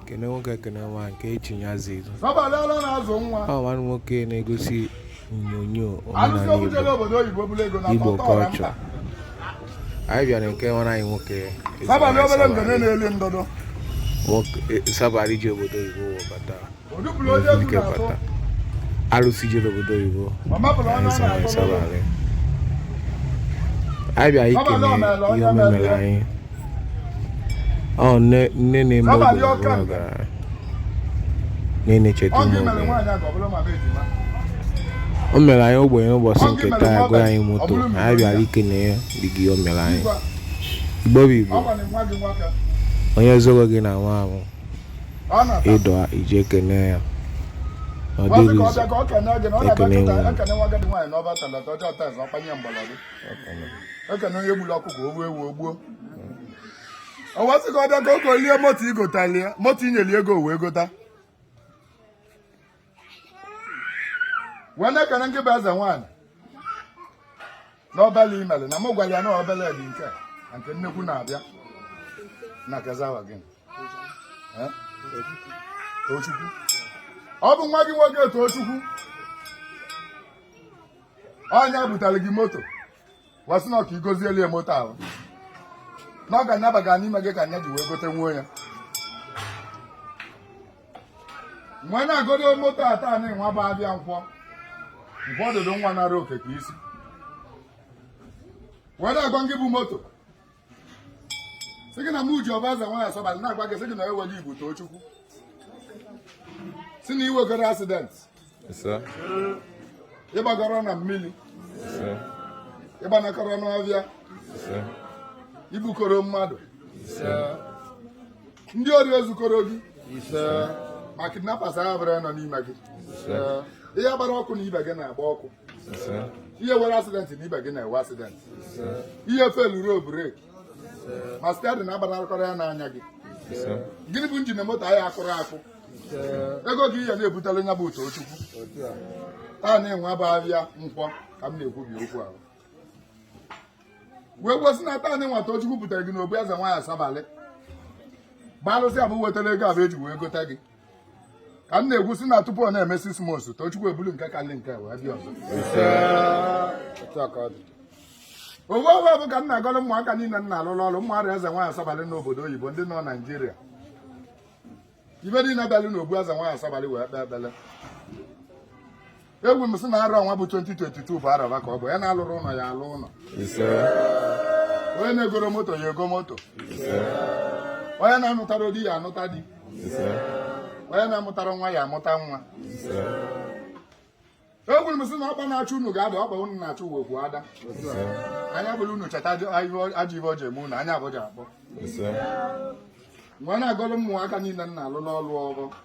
kene nwoke kene nwaanyị nke echinye azụ izu ọ nwanne nwoke na-egosi onyonyo omenala igbo culture anyị bịara nke nwanne anyị nwoke asabalị ji obodo oyibo wee bata arụsị jere obodo oyibo anyị bịa ikele ihe o meere anyị ọ nne na-eme ọgaranya na-echeta ụmụ o mere anyị ogbenye ụbọchị nke taa agụ anyị moto anyị bịara ikele ya dị gị o mere anyị igbo bụ igbo onye zoro gị na nwa ahụ ịdọ ije kene ya ọ dịrị izu ekene nwe ekene onye gburu ọkụkọ o gbuo ewu o gbuo o wee sị ka ọ bịa ka ọ gọọlụ ya moto i gotalụ ya moto i nyelụ ego wee gota wee na-ekene ngị bụ eze nwaanyị n'obele i mere na mụ gwara ya na obele bụ nke a na nke nnekwu na-abịa n'aka ezi nwa gị Tochukwu ọ bụ nwa gị nwoke Tochukwu ọ nya butere gị moto wee sị na ọ ka ị gọzielụ ya moto ahụ na ọ ga-anyabaga n'ime gị ka nya ji wee gote nwuo ya wee na-agọrọ moto a taa nwa bụ ahịa nkwọ nkwọ ọdụdụ nwa nara oke ka e si wee na-agwa gị bụ moto sị gị na m ji ọfọ eze nwaanyị asabalị na-agwa gị sị gị na onye nwe gị bụ Tochukwu sị na i nwekọrọ accident ị bakọrọ na mmiri ị banakọrọ n'ọhịa i bukọrọ mmadụ ndị ori ezukọrọ gị ma kidnappers buru onye nọ n'ime gị ị ya-agbarọ ọkụ na ibe gị na-agba ọkụ ị ya-enwerọ accident na ibe gị na-enwe accident ị ya-efelurọ brake ma steering agbanarịkọrọ onye na-anya gị gịnị bụ engine moto anyị akụrụ akụ ego gị ihe na-ebutele nya bụ Tochukwu taa nwa bụ ahịa nkwọ ka m na-ekwubi okwu ahụ wee kwu sị na taa nwa Tochukwu butere gị n'obu eze nwaanyị asabalị gbalụsị ebe o wetara ego ọ bụ e ji wee gota gị ka m na-ekwu sị na tupu ọ na-eme six months tochukwu ebulu nke kalị nke a wee bịa ọzọ owe owe bụ ka m na-agọrọ ụmụaka niile m na-alụrụ ọrụ ụmụarụ eze nwaanyị asabalị n'obodo oyibo ndị nọ Nigeria ibe niile bịalụ n'obu eze nwaanyị asabalị wee kpee ekpele ekwu m sị na arọ nwa bụ 2022 bụ araba ka onye na-alụrụ ụlọ ya alụ ụlọ onye na-egoro moto ya ego moto onye na-anụtara di ya anụta di onye na-amụtara nwa ya amụta nwa ekwuru m sị na ọkpa na-achụ unu ga-ada ọkpa unu na-achụ uwe okwu ada anya fụrụ unu cheta ajọ ife ọ ja-eme unu anya afụ ja-akpọ nwa na-agọrọ mmụọ aka niile m na-alụ n'ọlụ ọrụ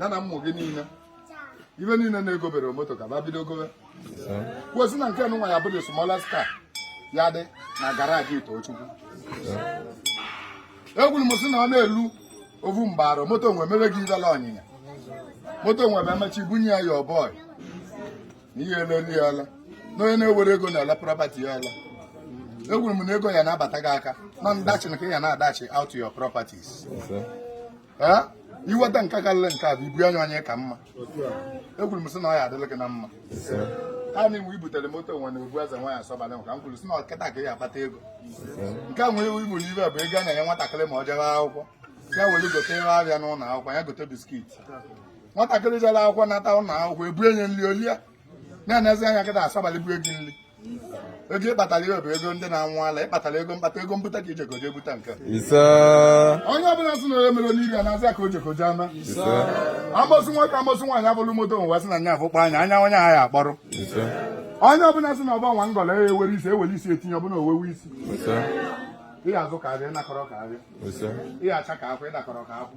ya na ụmụ gị niile ibe niile na-egobere moto ka ba bido gobe ekwuo sị na nke nwa ya bụ the smallest car ya dị na garaji Tochukwu ekwuru m sị na ọ na-elu ovu mgbaro moto nwa mere gị ibele ọnyịnya moto nwa bụ emechi bunye ya ya ọbọị na ihe eleli ya ala na onye na-ewere ego na-ele property ya ala ekwuru m na ego ya na-abata gị aka na ndachi na ka ya na-adashị out your properties iweta nke karịrị nke a bụ ibu anya onye ka mma ekwuru m sị na ọ ya-adịlị gị na mma ha na iwu ibutere moto nwa na obu eze nwaanyị asabalị m ka m kwuru sị na ọ kịta ka ị ya-akpata ego nke a nwere iwu igburu ife bụ ego a na-enye nwatakịrị ma ọ jebe akwụkwọ ya were gote ihe afịa n'ụlọ akwụkwọ ya gote biskit nwatakịrị jere akwụkwọ nata ụlọ akwụkwọ e bunye nri o lie na-enezi anya gị na-asabalị bụ ego nri ego ịkpatara ihe bụ ego ndị na-anwụ ala ịkpatara ego mkpata ego mbute ka ijeko jee bute nke ise onye ọbụla sị na onye mere onye ibe na-azị ka o jeko jee ama ise amosu nwoke amosu nwaanyị fụrụ moto nwa sị na nya afụkpa anya anya onye ahụ akpọrọ ise onye ọbụla sị na ọba nwa ngọla ya ewere isi ewere isi etinye ọbụla owewe isi ise ihe a zụ ka afịa ị nakọrọ ka afịa ise ihe acha ka akwụ ị nakọrọ ka akwụ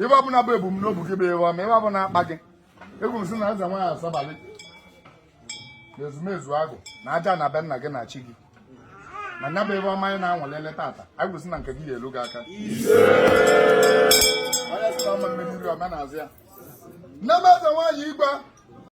ihe ọbụla bụ ebumnobi gị bụ ihe ọma ihe ọbụla na-akpa gị ekwu m sị na eze nwaanyị asabalị na ezumezu agụ na aja na be nna gị na chi gị na nya bụ ihe ọma anyị na-aṅụlị tata anyị kwu sị na nke gị ga-elu gị aka onye sị na ọma mmiri nri ọma na-azụ ya nne m eze nwaanyị igwe